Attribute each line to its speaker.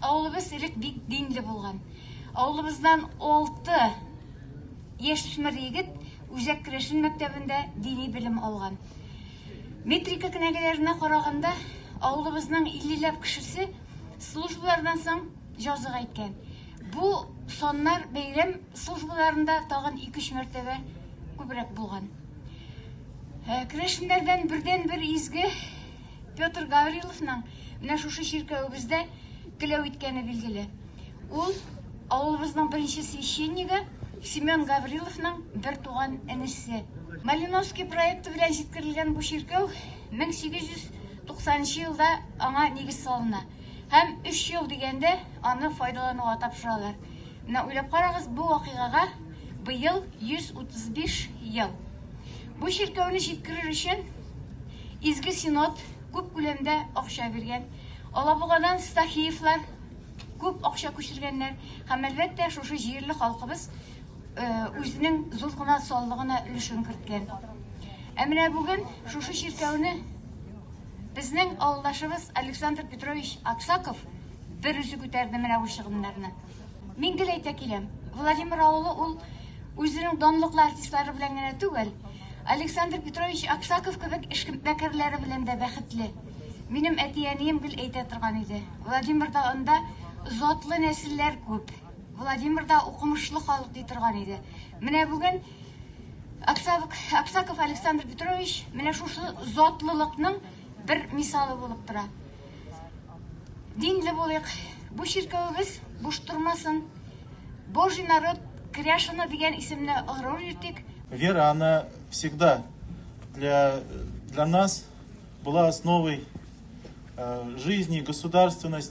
Speaker 1: Авылыбыз элек бик динле булган. Авылыбыздан алты яшүсмер егет Үзәк керәшен мәктәбендә дини белем алган. Метрика кенәгәләренә караганда, авылыбызның иллеләп кешесе службалардан соң җазыга иткән. Бу саннар бәйрәм службаларында тагын ике-өч мәртәбә күбрәк булган. Ә, керәшеннәрдән бердән-бер изге Петр Гавриловның менә шушы чиркәвебездә теләү иткәне билгеле. Ул авылыбызның беренче священнигы Семен Гавриловның бер туган энесе. Малиновский проекты белән җиткерелгән бу чиркәү 1890 елда аңа нигез салына. Һәм өч ел дигәндә аны файдалануга тапшыралар. Менә уйлап карагыз, бу вакыйгага быел 135 ел. Бу чиркәүне җиткерер өчен Изге Синод күп күләмдә акча биргән. Алабугадан Стахеевлар күп акча күчергәннәр. Һәм, әлбәттә, шушы җирле халкыбыз үзенең зур гына саллыгына өлешен керткән. Ә менә бүген шушы чиркәүне... Безнең авылдашыбыз Александр Петрович Аксаков берүзе күтәрде менә бу чыгымнарны. Мин гел әйтә киләм, Владимир авылы ул үзенең данлыклы артистлары белән генә түгел, Александр Петрович Аксаков кебек эшкмәкәрләре белән дә бәхетле. Минем әти-әнием гел әйтә торган иде, Владимирда анда затлы нәселләр күп, Владимирда укымышлы халык ди торган иде. Менә бүген Аксаков Александр Петрович менә шушы затлылыкның бер мисалы булып тора. Динле булыйк, бу чиркәвебез буш тормасын. Божий народ Кряшина дигән исемне горур итик. Вера, она
Speaker 2: всегда для, для нас была основой э, жизни, государственности.